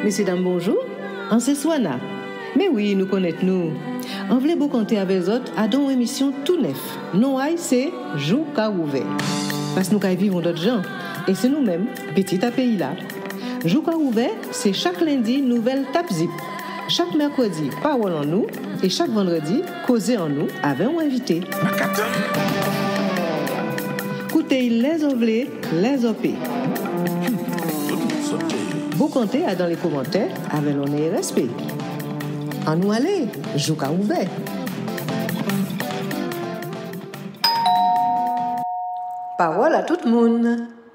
Mesye dam bonjou an se Suana men wi nou konèt nou an vle bokante avè zòt adan on emisyon tou nèf non ay se jou ka wouvè pas nou kay viv on lòt jan e se nou menm pitit a peyi la. Jou pa ouvè, se chak lendi nouvèl Tap Zip, chak mèkredi Pawòl an Nou e chak vandredi Koze an Nou avè yon envite. Koute y lè zò vle, lè zò pe. Bokante a dan le komantè avè lonè e rèspe. An Nou ale, jou ka ouvè. Pawòl a tout moun.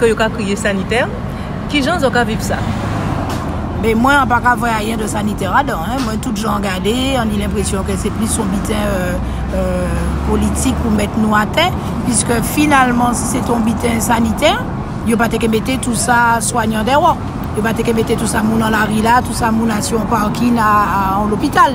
Ke yo ka kriye sanitè, kijan zo ka viv sa? Ben mwen an paka vwe ayen de sanitè ladan an, mwen tout jan gade an li lenpresyon ke se plis yon biten politik pou met nou atè, piske finalman si se te yon biten sanitè, yo pa te ke mete tou sa swanyan dewo, yo pa te ke mete tou sa moun an lari la, tou sa moun a sou yon parkin a yon lopital.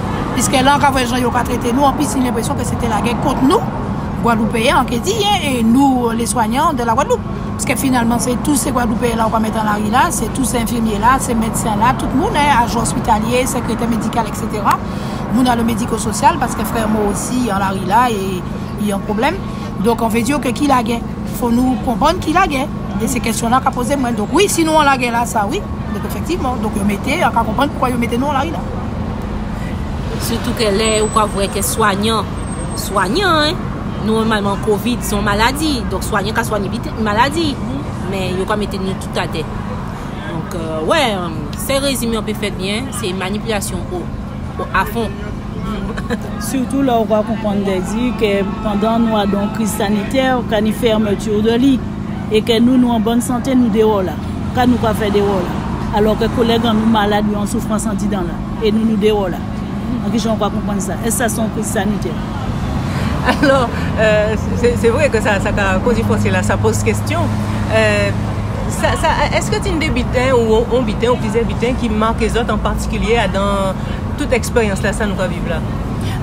Piske la an ka wè jan yo ka trete nou, anpi siy lenpresyon ke sete lagè kont nou, Gwadloupeyen an ke di, e nou, les soignants de la Guadeloupe. Piske finalman se tou se Gwadloupeyen la ou pa mèt an lari la, se tou se enfimye la, se medsen la, tout moun, e ajan ospitalye, sekretè medikal, eksetera. Moun a lo mediko sosyal, paske frè mou osi an lari la, e li an pwoblèm. Donk an ve di yo ke ki lagè? Fò nou konprann ki lagè. E se kesyon la ka poze mwen. Donk wi, si nou an lagè la, sa wi. Donk efektivman. Donk yo mete, an ka konprann poukwa yo mete nou an lari la. Sitou ke lè ou ka vwè ke swanyan, swanyan, nòmalman covid son maladi, donk swanyan ka swanye vit yon maladi, men yo ka mete nou tout atè. Donk, wè, sèl rezime yon pe fèt byen, se manipilasyon a fon. Sitou lè ou ka konprann, te di, ke pandan nou a dan kriz sanitè, ka ni fèmetur de li. E ke nou, nou an bòn sante, nou dehò la. Ka nou ka fè dehò la. Alò ke kolèg an nou malad, yo an soufrans an didan la. E nou, nou dehò la. An ki jan ou ka konprann sa? Èske sa se yon kriz sanitè? Alò, se vre ke sa ka koze panse la, sa poze kestyon. Èske ti yon debiten ou yon biten ou plizyè biten ki make zòt an patikilye a dan tout eksperyans la, sa nou ka viv la?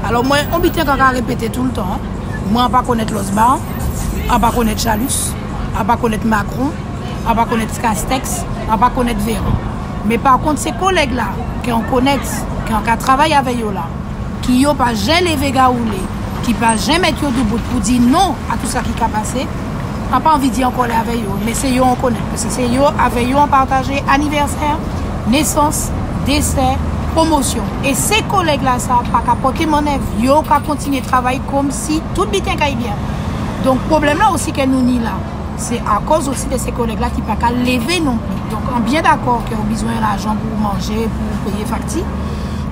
Alò mwen, yon biten ka ka repete tou le tan. Mwen an pa konèt lòs ba an. a pa konèt Jalus, a pa konèt Makron, a pa konèt Kastèks, a pa konèt Veran. Men pa kont se kolèg la ke an konèt, ke an ka travay avè yo la, ki yo pa jen leve gawoule, ki pa jen mèt yo doubout pou di non a tou sa ki ka pase, a pa anvi di an kòlè avè yo, men se yo an konèt. Paske se yo avè yo an pataje anivèsè, nesans, desè, pwomosyon. E se kolèg la sa pa ka pote mannèv, yo ka kontinye travay kom. Si tout biten kay byen an. Donk pwoblèm la osi ke nou ni la. Se akòz osi de se kolèg la ki pa ka leve non pli. Donk an byen dakò ke ou bizwen lajan pou ou manje, pou ou peye fakti.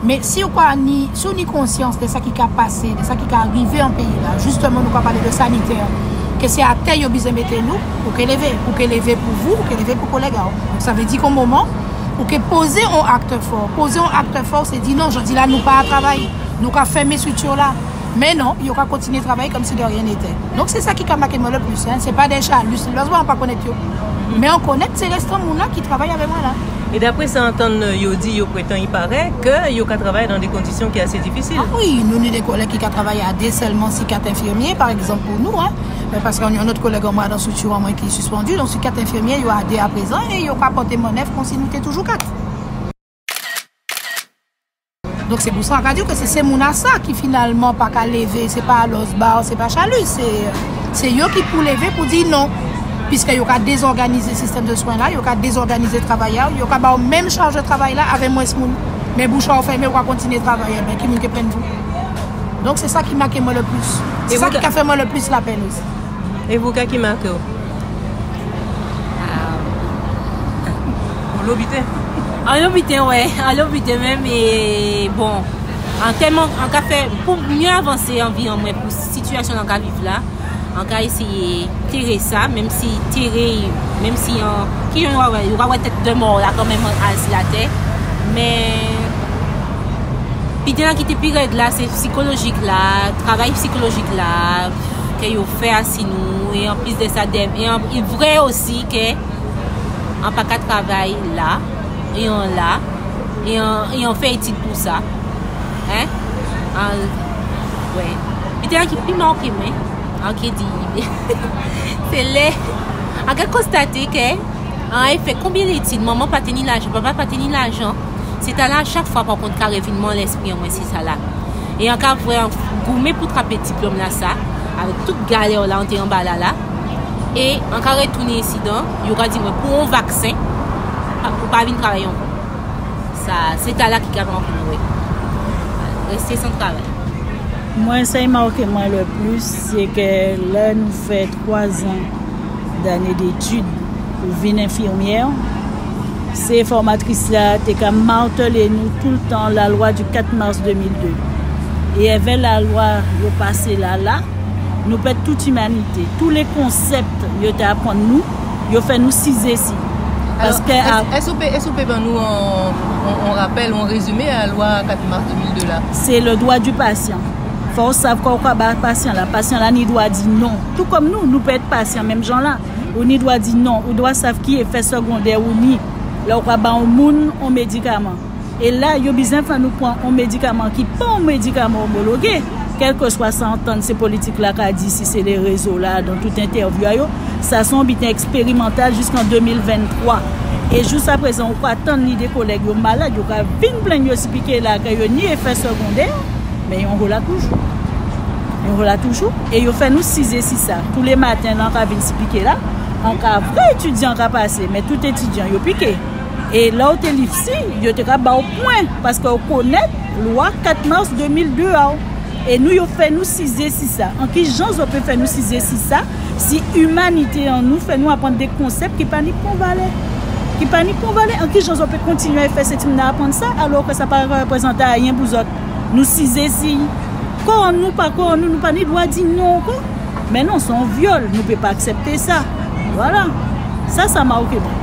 Men si ou pa ni, si ou ni konsyans de sa ki ka pase, de sa ki ka rive an peyi la. Jisteman nou ka pale de sanitè. Ke se atè yo bizwen mete nou. Ou ke leve. Ou ke leve pou vou, ou ke leve pou kolèg a ou. Sa vle di kon moman, ou ke poze on aktè fò. Poze on aktè fò se di non, jodi la nou pa a travay. Nou ka fèmen strikti yo la. Men non, yo ka kontinye travay kòm si de rien n'était. Donk se sa ki ka make mwen le plus, hein, se pa des chats hallucinants, mwen pa konèt yo, men an konèt se restan moun la ki travay avè mwen la. E dapre sa antann yo di, yo pretan i parè, ke yo ka travay dan de kondisyon ki ase difisil. Ah wi, nou ni de kolèg ki ka travay a de sèlman si kat enfirmye, par egzanp pou nou, hein, men paske an yon lòt kolèg an mwen a dan strikti an mwen ki sispandu, donk si kat enfirmye yo a de a prezan e yo ka pòte mannèv kòm si nou te toujou kat. Donk se pou sa ka diw ke se Semouna sa ki finalman pa ka leve, se pa Alos Bar, se pa Chalu, se yo ki pou leve pou di non. Piske yo ka dezòganize sistèm de swen la, yo ka dezòganize travay la, yo ka ba w menm chaj de travay la avè mwens moun. Men bouch a w fèmen, ou ka kontinye travay. Enben, ki moun ki plenn tou? Donk se sa ki make mwen le plis. Se sa ki ka fè mwen le plis lapenn. E pou ka ki make w? Bon lo biten. An lo biten wè, an lo biten menm e bon. An tèman an ka fè pou mye avanse an vi an mwen pou sitiyasyon an ka viv la. An ka eseye tere sa menm si tere menm si an ki yon wè yo wè tèt de mò la kan menm an al si la tè. Men piten an ki te pi rèd la se psikolojik la, travay psikolojik la ke yo fè. Ti nou e anplis de sa dev e anpil vre osi ke an pa ka travay la e an la e an e an fè etid pou sa hein an wè li te an ki pi manke mwen an ki di se le an ke konstate ke an e fè konbyen de etid manman pa te ni lajan papa pa te ni lajan se ta la chak fwa pa kont kare vin man lespri an mwen se sa la. E an ka vre an goumen pou trape diplom la sa avek tout galè w la an te anba la la e an ka retounen insidan yo ka di mwen pou on vaksen ou pa vin travay anko sa se tala ki ka vankou nou we reste san travay. Mwen se Emaw ke mwen le plus se ke lè nou fè. 3 zan dane detid pou vin enfimyè, se fòmatris la te ka martele nou tou l tan la lwa di 4 mas 2002. E èvè la lwa yo pase la la, nou pèd tout imanite. Tou le konsèpt yo te apwann nou, yo fè nou sizezi. Paske a. Èske ou pe, èske ou pe ban nou yon rapèl, yon rezime a lwa 4 mas 2002 la? Se le dwa di pasyan. Fò w sav kò w ka ba pasyan la. Pasyan la ni dwa di non. Tou kòm nou, nou pè èt pasyan menm jan la. Ou ni dwa di non. Ou dwa sav ki efè segondè ou ni lè w ka ba yon moun yon medikaman. E la, yo biznen fè nou pran yon medikaman ki pa yon medikaman omologe. Kèlkeswa sa antann se politik la ka di, si se le rezo la, dan tout entèvyou a yo, sa se yon biten eksperimantal jiskan 2023. E jousaprezan ou ka tann lide kolèg yo malad yo ka vin plenn yo si pike la ke yo ni efè segondè. Men yon hola toujou. Yon hola toujou. E yo fè nou size si sa. Tou le maten lan ka vin si pike la. An ka vre etidyan ka pase. Men tout etidyan yo pike. E la ou te liv si, yo te ka ba ou pwen. Paske ou konet lwa 4 mars 2002 a ou. E nou yo fè nou size si sa. An ki jan zo pe fè nou size si sa. Si imanite an nou fè nou aprann de konsèp ki pa ni pon valè, ki pa ni pon valè, an ki jan zòt pe kontinye e fè se timoun nan aprann sa alò ke sa pa reprezante ayen pou zòt? Nou si zeziy. Kò an nou pa kò an nou, nou pa ni dwa di non ankò. Men non, se yon vyòl, nou pe pa aksepte sa. Vwala. Sa sa mawke mwen.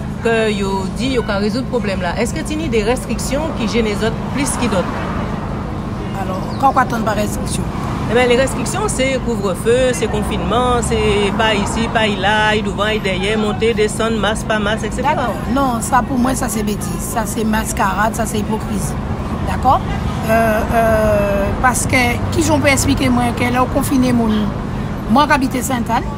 Ke yo di yo ka rezoud pwoblèm la. Eske t yn ide restriksyon ki jene zòt plis ki dòt? Alò, ka w pa tann pa restriksyon. Enben, li restriksyon se kouvrefe, se konfinman, se pa isi, pa ila, ay douvan, ay dèyè, monte, desann, mas, pa mas, etc. Dakò. Non, sa pou mwen sa se betiz. Sa se maskarad, sa se ipokrizi. Dakò? Paske, kijan w pe esplike mwen ke lè w konfine moun, mwen k abite Sentane,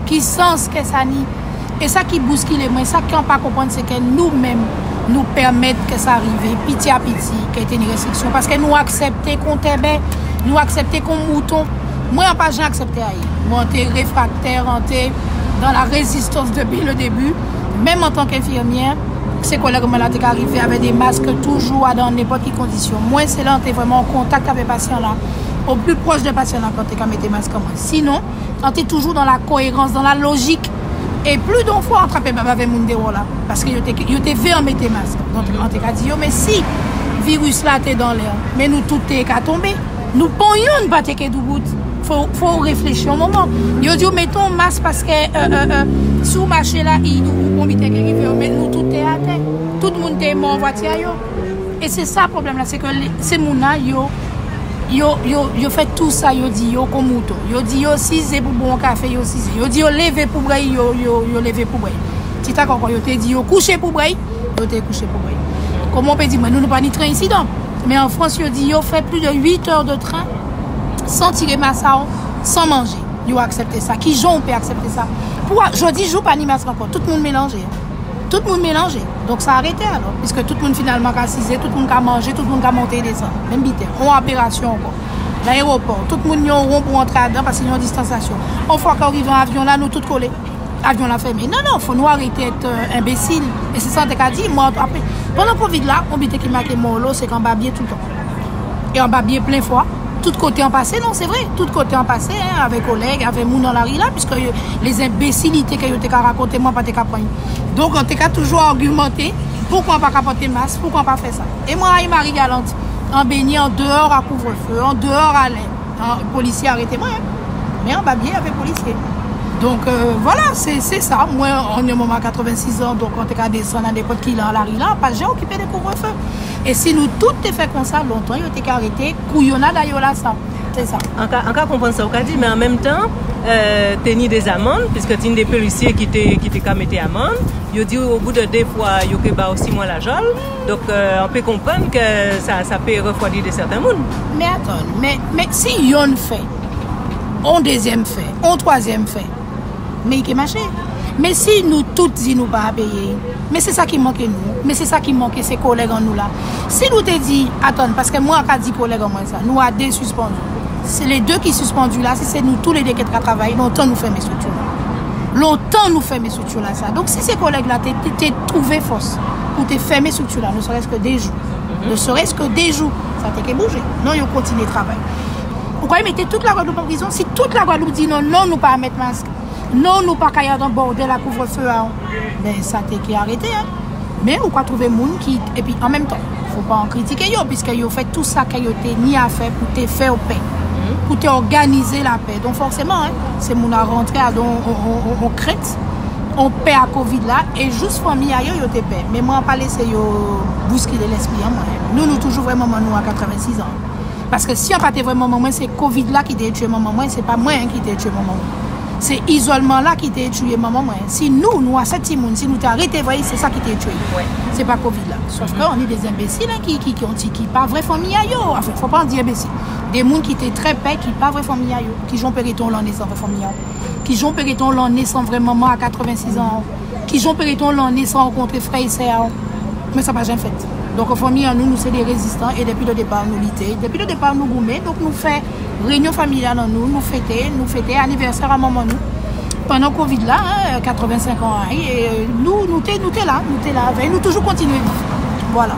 Ki sans kè sa ni? E sa ki bouskile mwen, sa kè an pa konprann se kè nou menm nou pèmèt kè sa rive piti a piti kè te ni restriksyon paske nou aksèpte kon tèbè, nou aksèpte kon mouton. Mwen an pa jan aksèpte a ye. Mwen an te refraktè, an te dan la rezistans depi le debi. Menm an tan kè enfimyè, se kolèg mwen la te ka rive avè de mask toujou a dan nenpòt ki kondisyon. Mwen se lè an te vrèman an kontak avè pasyan la, o pli pwòch de pasyan la kè an te ka mete mask an mwen. Sinon. an te toujou dan la koerans, dan la lojik, e pli don fwa an trape bab avè moun dewo la, paske yo te ve an mete mask, donk an te ka di yo mesi, viris la te dan lè, men nou tout te ka tonbe, nou pon youn pa te ke doubout, fo ou reflechi yon moman, yo di ou mete yon mask paske si ou mache la, yon bitè ke rive, men nou tout te atè, tout moun te mò an vwati a yo. E se sa pwoblèm la se ke se moun la yo yo yo yo fè tou sa yo di yo kou mouton yo di yo size pou bwè yon kafe yo size yo di yo leve pou bwè yo yo yo leve pou bwè ti ta kòkò yo te di yo kouche pou bwè yo te kouche pou bwè kòman w pe di mwen nou nou pa ni tren isi donk men an frans yo di yo fè pli de 8 èr de tren san tire masa w san manje yo aksèpte sa kijan w pe aksèpte sa pou a jodi jou pa ni masa ankò tout moun melanje. Tout moun melanje, donk sa rete alò, piske tout moun finalman ka size, tout moun ka manje, tout moun ka monte e desann, menm bitè. On operasyon ankò. Nan ewopò, tout moun gen on won pou antre adan paske gen on distansasyon. On fwa kèw rive an avyon la, nou tout kole. Avyon la fèmen. Non, non, fò nou arete èt enbesil. E se sa te ka di, mwen antre. Pandan kovid la, on bitè ki make Mòlo, se kanba byen toutan. e anba bye plen fwa, tout kote an pase non se vre, tout kote an pase hein avè kolèg, avè moun nan lari la piskè yo les enbesilite ke yo te ka rakonte mwen pa te ka pran yo donk an te ka toujou argumante poukwa an pa ka pote mas, poukwa an pa fè sa e mwen rayi Marie Galante an benyen an deor a kouvre feu, an deor a lè polisye arete mwen men anba bye avè polisye donk vwala se se sa mwen an yon moman a 86 an donk an te ka desann a nenpòt ki lè an lari la pa jan okipe de kouvre feu E si nou tout te fè konsa, lontan yo te ka rete kou yo nada yo la sa. Se sa. An ka konprann sa ou ka di, men an menm tan, te ni des amendes, puisque te ni des policiers ki te, ki te ka mete amande, yo di ou au bout de 2 fwa yo ke ba ou 6 mwa lajan, donk an pe konprann ke sa, sa pe refwadi de sèten moun. Men atann, men, men si yonn fè, on dezyèm fè, on twazyèm fè. Men ike mache. Men si nou tout di nou pa peye, men se sa ki manke nou. Men se sa ki manke se kolèg an nou la. Si nou te di, atann, paske mwen aka di kolèg an mwen sa, nou a de sispandu. Se le de ki sispandu la, si se nou tou le de ki t ka travay, lontan nou fèmen estrikti la. Lontan nou fèmen estrikti la sa. Donk si se kolèg la te twouve fòs pou te fèmen estrikti la, ne serès ke de jou. Ne serès ke de jou. Sa te ke bouje. Non yo kontinye travay. Ou kwè yo mete tout la Guadeloupe an prizon? Si tout la Guadeloupe di non, non nou pa met mask, non nou pa ka andan bordel a couvre feu a, ben sa te ki arete a. Men ou ka trouve moun ki, epi an menm tan, fo pa an kritike yo, piskè yo fè tout sa kè yo te ni a fè pou te fè ou pè, pou te òganize la pè. Don fòseman an, se moun a rantre a don on krent, on pè a covid la, e jous fanmi a yo, yo te pè. Men mwen an pa lese yo bouskile lespri an mwen. Nou nou toujou vwè manman nou a 86 an. Paske si an pa te vre manman mwen se covid la ki te tye manman mwen se pa mwen ki te tye manman mwen se izolman la ki te touye manman mwen si nou nou a 7 ti moun si nou ta rete vre se sa ki te tye mwen se pa covid la sof ke an li de zenbesil an ki ki yon ti ki pa vre fanmi a yo an fo pa di enbesil de moun ki te tre pè ki pa vre fanmi a yo kijan w pe rete yon lanne san vre fanmi a w kijan w pe rete yon lanne san vre manman a 86 an Kijan peryton lanne san ou kontre frè e sè a w men sa pa janm fèt donk an fanmi an nou nou se de rezistan e depi le depart nou lite depi le depart nou goumen donk nou fè renyon familyal an nou nou fete nou fete anivèsè a manman nou pandan covid la 85 an a e nou nou te nou te la nou te la avè nou toujou kontinye viv vwala.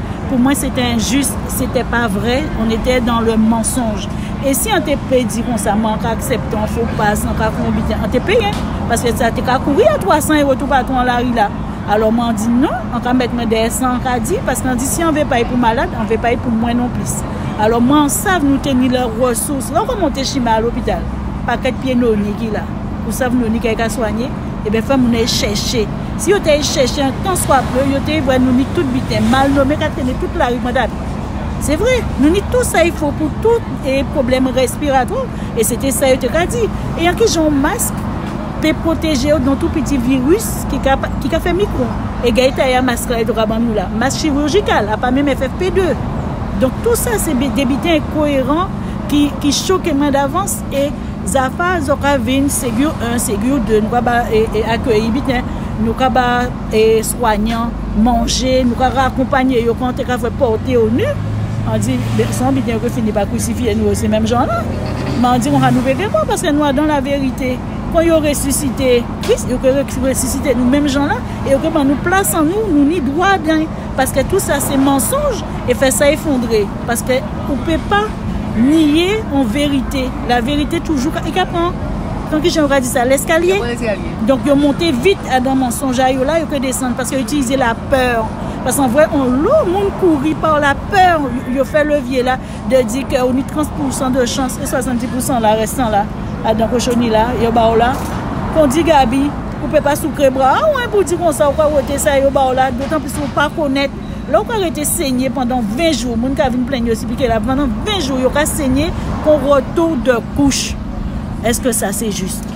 Pou mwen se te enjis, se te pa vre, on ete dan le mansonj. E si an te pe di kon sa, mwen an ka aksepte an fo pas, an ka kon biten, an te peye. Paske sa te ka kouri a 3 san ewo tou pa tou an lari la. Alo mwen an di non, an ka met mwen dèyè san an ka di, paske an di si an ve pay pou malad, an ve pay pou mwen non plis. Alo mwen an sav nou te ni lè resous. Lè ou kon mwen te chime a lopital, pakèt pye noni ki la. Ou sav noni kè ka swanye. Eben fè moun ae chèche. Si yo te ae chèche an tan swa peu yo te wè nou ni tout biten, mal nome ka trene tout lari Grand'Anne. Se vre, nou ni tou sa ifo pou tout e pwoblèm respiratwa w e se te sa yo te ka di. E an ki jan yon mask pe pwoteje w don tou piti viris ki ka ki ka fè mikro. E gade ta ya mask la yo te ka ban nou la. Mask chirijikal, apa menm FFP2. Donk tou sa se de biten enkoyeran ki ki choke mwen davans. E zafa zo ka vin segur 1 segur 2 nou ka ba akeyi biten nou ka ba swanyan manje nou ka akonpanye yo kante ka fè porte yo nu an di son biten yo ke fini pa krisifiye nou yo se menm jan la men an di kon sa nou pe gen pwa paske nou a dan la verite kon yo resisite kris yo ke resisite nou menm jan la e yo ke ban nou plas an nou nou ni dwa dan. Paske tou sa se mansonj e fè sa efondre. Paske ou pe pa niye yon verite. La verite toujou ka, li ka pran, pran ki jan yo ka di sa, leskalye. Yo pran leskalye. Donk yo monte vit adan mansonj a yo la, yo pe desann. Paske yo itilize la peur. Paske an vre, an lo, moun kouri par la peur, yo fè levye la. de di ke ou ni 30 pou san de chans e 70 pou san la rèstan la adan kochoni la yo ba ou la kondi gaby ou pe pa soukre bra ou an pou di konsa ou ka wete sa yo ba ou la dotan plis ou pa konet lè ou ka rete senye pandan 20 jou moun ka vin plenn yo si pike la pandan 20 jou yo ka senye kon retou de kouch eske sa se jis.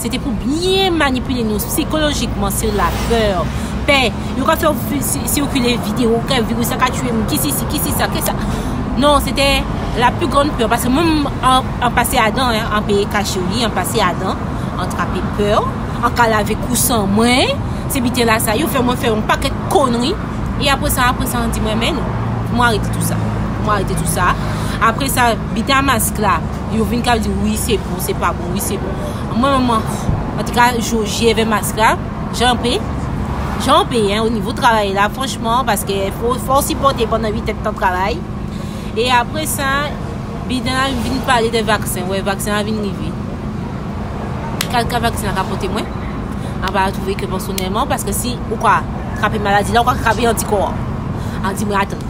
Se te pou byen manipile nou psikolojikman sur la peur, pè. Yo ka fè w sikile video ke virus la ka tuye moun, ki si si, ki si sa, ki sa. Non, se te la plus grande peur. Paske moun an pase a dan, an peye kache w li, an pase a dan, an trape pè w, an ka lave kou san mwen. Se biten la sa yo fè mwen fè yon paket konri. E apre sa, apre sa an di m renmen nou. Mwen arete tout sa. Mwen arete tout sa. Apre sa, biten a mask la. Yo vin kap di wi se bon se pa bon wi se bon Mwen menm an tou ka jou je ve mask la Jan pe Jan pe o nivou travay la franchman paske fò w sipote pandan 8 et tan travay E apre sa Biden la vin pale de vaksen wè vaksen la vin rive Kal ka vaksen la ka pote mwen An va atouve ke pèsonèlman paske si ou ka trape maladi la ou ka trape antikò an An di mwen atan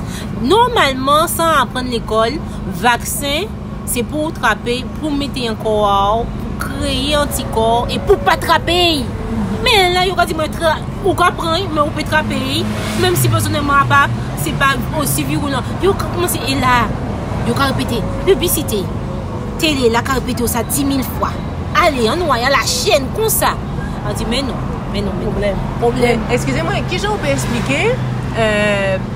Nòmalman san aprann lekòl Vaksen, se pou ou trape, pou w mete an kò a w, pou w kreye antikò, e pou w pa trape y! Men lè yo ka di mwen tra, ou ka pran y, men ou pe trape y, menm si pèsonèlman apa, se pa osi virulan. Yo ka koumanse, e la, yo ka repete, piblisite, tele la ka repete w sa 10.000 fwa. Ale, an nou ale a la chèn, konsa. A di men non, men non, men non. Pwoblèm. Pwoblèm. Eskize mwen, kijan ou pe esplike, eh.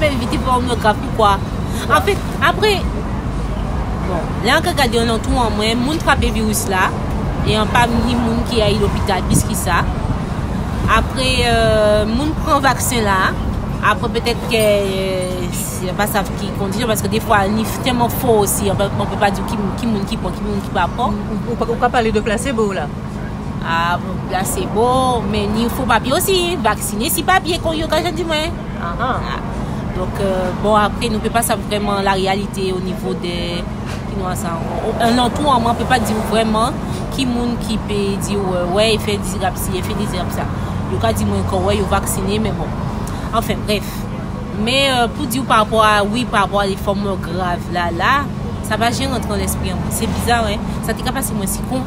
Men li di pawòm yo grav poukwa? An fèt, apre Bon, lè ank gade yon nan tou an mwen, moun trape viris la, e an pami moun ki ayi lopital plis ki sa. Apre euh, moun pran vaksen la, apre petèt ke se pa sa ki kondisyon, paske defwa ni tèman fò osi, an fèt, mwen pa di ki moun ki pran, ki moun ki pa pran. Ou ka pale de plasebo la? Ah bon bgy la se bon men ni fo papye osi vaksine si papye kon yo ka jan di mwen. Ahan. Ah. Donk bon apre nou pe pa sa vreman la realite o nivo de ki nou ansan ankon. An nan tou an mwen pe pa di ou vreman ki moun ki pe di ou wè e fe dizirab si e fe dizirab sa. Yo ka di mwen kon wè yo vaksine men bon. Anfen bref. Men pou di ou pa rapò a wi pa rapò a li fò mò grav la la sa pa jen rantre nan lespri an mwen. Se bizar hein. Sa te ka pase mwen si kon.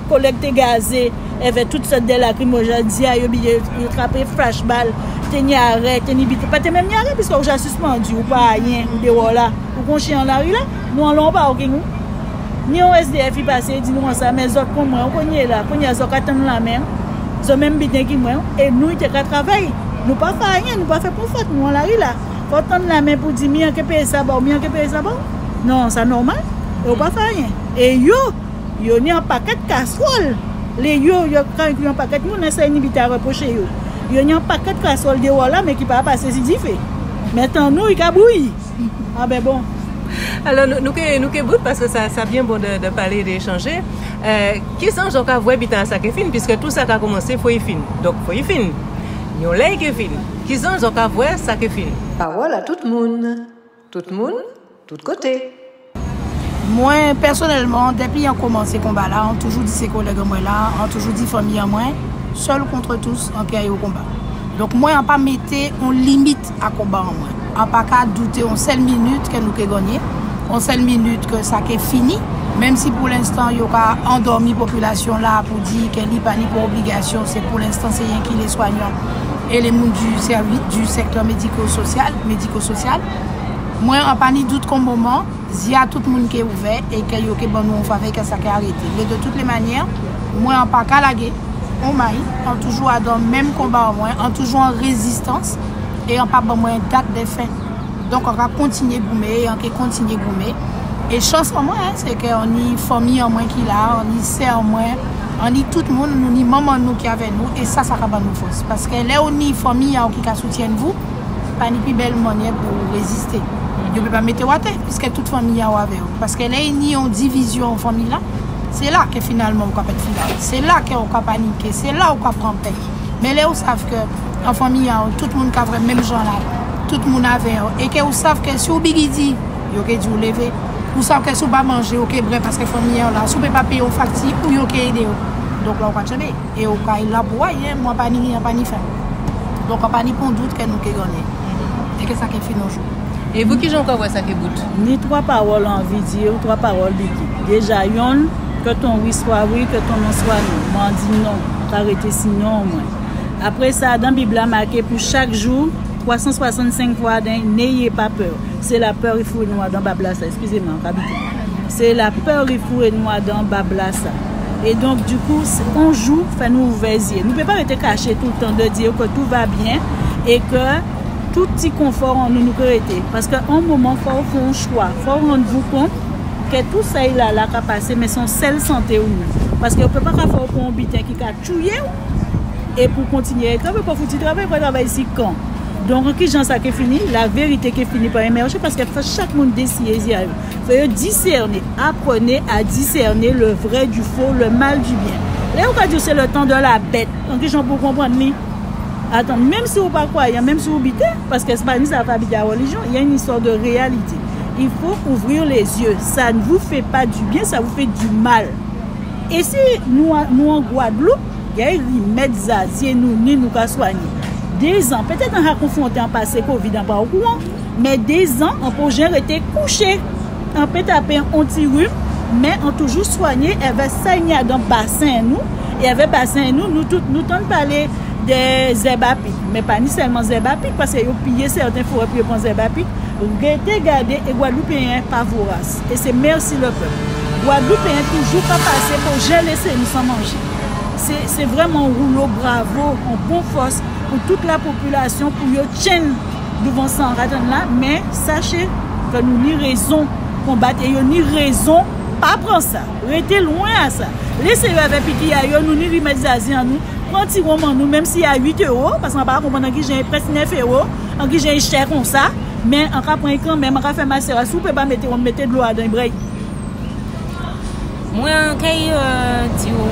Kolèg te gaze èvè tout sòt dè lakrimo jodi a yo biye yo trape flash bal te nyare te ni bit ou pa te menm nyare piske ou ja sispandu ou pa ayen ou dewò la ou gon chyen an lari la nou anlè ou pa ou gen ou ni yon SDF li pase di nou konsa men zòt kon mwen ou kon ye la kounye a zò ka tann la men zò menm biden ki mwen ou e nou te ka travay nou pa fè ayen nou pa fè pon fòt nou an lari la fò tann la men pou di mi an ke peye sa ba ou mi an ke peye sa ba ou non sa nòmal e ou pa fè ayen e yo. Yo ni an pakèt kaswòl le yo yo kan ekri an pakèt moun lè sa inibi ta repwoche yo. Yo ni an pakèt kaswòl dewò la men ki pa pa sezi dife. Men tannou i ka bouyi. A ben bon. Alò nou ke nou ke bout paske sa sa byen bon de de pale e de echanje. Ki san jan w ka vwè bitan an sa ke fin piske tou sa ka koumanse fo i fin. Donk fo i fin. Yon lè i ke fin. Ki zan jan w ka vwè sa ke fin. Pawòl a tout moun. Tout moun, tout kote. Mwen pèsonèlman depi an komanse konba la an toujou di se kolèg an mwen la an toujou di fanmi an mwen seul contre tous an pyè yo konba donk mwen an pa mete on limit a konba an mwen an pa ka doute on sèl minit ke nou ke ganye on sèl minit ke sa ke fini menm si pou lenstan yo ka andòmi popilasyon la pou di ke li pa ni pou obligasyon se pou lenstan se yenkile swanyan Ele moun du sèvi du sektè mediko sosyal, médico social, Mwen an pa ni dout kon moman, zye a tout moun ke ouvè e ke yo ke ban nou on favè kè sa kè arete. Men de tout le manyè, mwen an pa ka lage, on may, an toujou adan menm konba an mwen, an toujou an rezistans e an pa ban mwen dat de fen. Donk an ka kontinye goumen e an ke kontinye goumen. E chans an mwen se ke an ni fanmi an mwen ki la, an ni sè an mwen, an ni tout moun, nou ni manman nou ki avè nou e sa sa ka ban nou fòs. Paske lè ou ni fanmi a ou ki ka soutyenn vou, pa ni pi bèl manyè pou ou reziste. Yo pe pa mete ou atè piske tout fanmi a ou avè ou. Paske lè e ni yon divizyon an fanmi la, se la ke finalman ou ka pèt fidèl. Se la ke ou ka panike, se la ou ka pran pè. Men lè ou sav ke an fanmi a ou tout moun ka vre menm jan la tout moun avè yo e ke ou sav ke si ou bgy di yo ke di ou leve ou sav ke si ou pa manje ou ke bre paske fanmi a ou la si ou pe pa peye yon fakti ou yo ke ede yo donk la ou ka tchebe e ou ka la pou wa yen mwen pa ni ri an pa ni fè donk an pa ni pon dout ke nou ke gane e ke sa ke fini yon jou. E pou kijan ou ka wè sa ke bout? Ni 3 pawòl ou anvi di yo 3 pawòl bgy deja yonn ke ton wi swa wi ke ton non swa non mwen an di non. Pa rete sin non mwen. Apre sa, dan Bib la make pou chak jou 365 fwa den neye pa pè. Se la pè ri foure nou adan bab la sa. Eskize mwen, pa bite. Se la pè ri foure nou adan bab la sa. E donk di kou, on jou fè nou ouvè zye. Nou pe pa rete kache tout tan de di yo ke tou va byen e ke tout ti konfò an nou nou pe rete. Paske on moman fò ou fon chwa. Fò ou rann vou kont. Ke tou sa il a la ka pase men son sèl sante ou menm. Paske yo paka fè ou pran yon biten ki ka tuye ou e pou kontinye e travay ou pa fouti travay ou pa travay si kan. Donk an kijan sa ke fini? La verite ke fini pa emèje paske fòk chak moun desiye zye a yo. Fò yo disène, apwene a disène le vrè di fo, le mal di byen. E ou ka di se le tan de la bèt. An kijan pou ou konprann li? Atann, menm si ou pa kwayan, menm si ou bite, paske se pa ni sa pa bite a relijyon, y a yn istwa de reyalite. Il faut ouvrir les yeux ça ne vous fait pas du bien ça vous fait du mal et si nou nou an gwadloup gay rimèd zazie nou ni nou ka swanye dezan petèt an ha konfwonte an pase covid an pa okouran men dezan an pou jen rete kouche an pe tape on ti rim men an toujou swanye èvè say ni agan basen nou e èvè basen nou nou tout nou tann pale de zèb apik men pa ni sèlman zèb apik paske yo piye sèten forè pou yo pran zèb apik. Rete gade e gwadloupeyen pa voras e se merci le peuple gwadloupeyen toujou pa pase pou jen lese nou san manje se vreman roulo bravo on bon fos pou tout la population pou yo tchenn douvan san ratann la men sache ke nou ni rezon konbat e yo ni rezon pa pran sa rete lwen a sa lese yo avè piki a yo nou ni rimet zazi an nou pran ti wonm an nou menm si a 8 euro paske mwen pa konprann nan ki jen e pres 9 euro An kijan e chè konsa, men an ka pran'l kanmenm, an ka fè masera, si w pe pa mete wonm mete dlo adan e brey. Mwen kay di w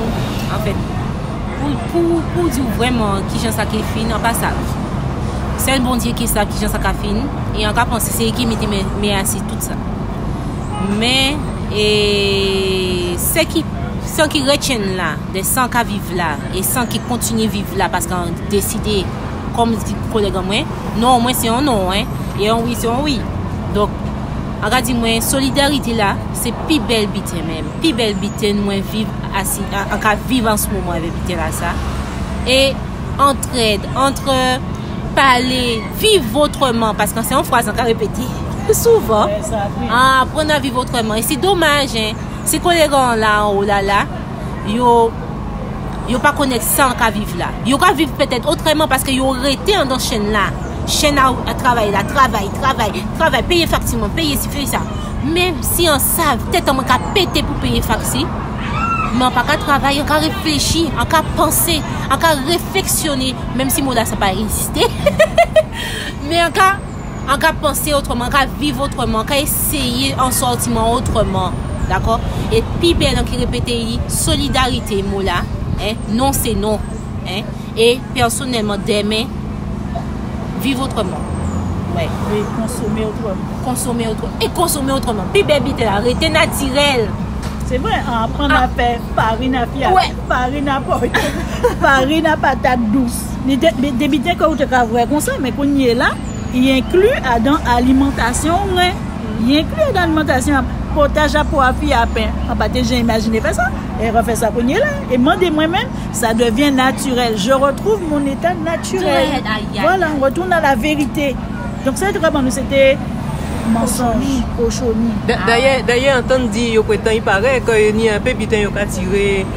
an fèt pou w di w vrèman kijan sa ke fin an pa sav. Sèl Bondye ki sav kijan sa ka fin e an ka panse se li ki mete men a si tout sa. Men e sè ki san ki retyen la, de san ka viv la e san ki kontinye viv la paske an deside. Kòm di kolèg an mwen, non an mwen se yon non an, e yon wi se yon wi. Donk, an ka di mwen, solidarite la, se pi bèl biten menm, pi bèl biten mwen viv, an ka viv an s moman an, biten la sa. E, antrèd, antre, pale, viv otreman, paske se yon fraz an ka repete, souvan, aprann a viv otreman. E se domaj, se kolèg an la, an ou la la, yo. Yo pa konèt sa an ka viv la. Yo ka viv pètèt otrèman paske yo rete andan chèn la. Chèn a travay la, travay, travay, travay, peye fakti mwen, peye si, peye sa. Men si an sa, tèt an mwen ka pete pou peye fakti, men an pa ka travay, an ka reflechi, an ka panse, an ka refleksyone, menm si mo la sa pa egziste, men an ka. An ka panse otreman, an ka viv otreman, an ka eseye an sòtiman otreman. Dakò? E pi bèl an ki repete li, solidarite mou la, en, non se non, en, e pèsonèlman dèmen, viv otreman. Wè. E konsome otreman. Konsome otreman. E konsome otreman. Pi bèl biten la, rete natirèl. Se vre, an aprann a fè farin a fiyat, farin a pòy, farin a patat dous. Ni debite ke ou te ka wè konsa, men kounye la, y enkli adan alimantasyon ou ren. Y enkli adan alimantasyon ap, potaj a, pwa, fi a, pen. An pa te jan imajine fè sa, e re fè sa kounye la, e mande mwen menm, sa devyen natirèl. Je retrouve mon état naturel. Vwala, m retounen a la verite. Donk sa yo te ka ban nou se te mansonj, kochoni. Dayè, antann di yo pretan, i pare, ke ni anpe biten yo ka tire.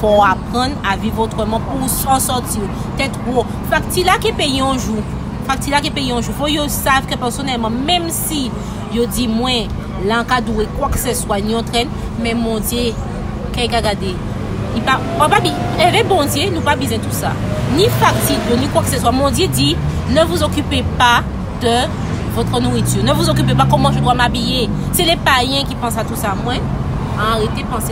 Fò w aprann a viv otreman pou w san sòti w. Tèt wo. Fakti la ke peye yon jou. Fakti la ke peye yon jou. Fò yo sav ke pèsonèlman menm si yo di mwen la an ka dwe kwakseswa ni yon tren men Bondye key ka gade li pa w pa bi eve Bondye nou pa bizen tou sa. Ni fakti dlo ni kwakseswa Bondye di ne vous occupez pas de votre nourriture. Ne vous occupez pas comment je dois m'habiller. Se le payen ki pansa tou sa mwen an rete panse.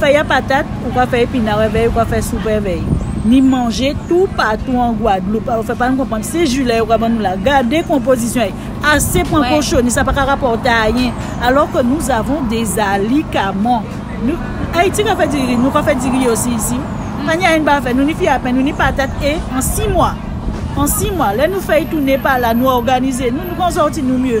Fèy a patat, ou ka fè epina vèy, ou ka fè sou pè vèy. Ni manje tou patou an gwadloup. Alò fè pa nou konprann, se ju lè yo pral ban nou la. Gade konpozisyon y. Ase pran kochoni, sa pa ka rapòte ayen. Alò ke nous avons des alikaman. Ayiti ka fè diri, nou ka fè diri osi isi. Pa ni ayen pa fè, nou ni fè a pen, nou ni patat e an si mwa. An si mwa, lè nou fèy tounen pa la, nou òganize nou, nou pran zòti nou mye.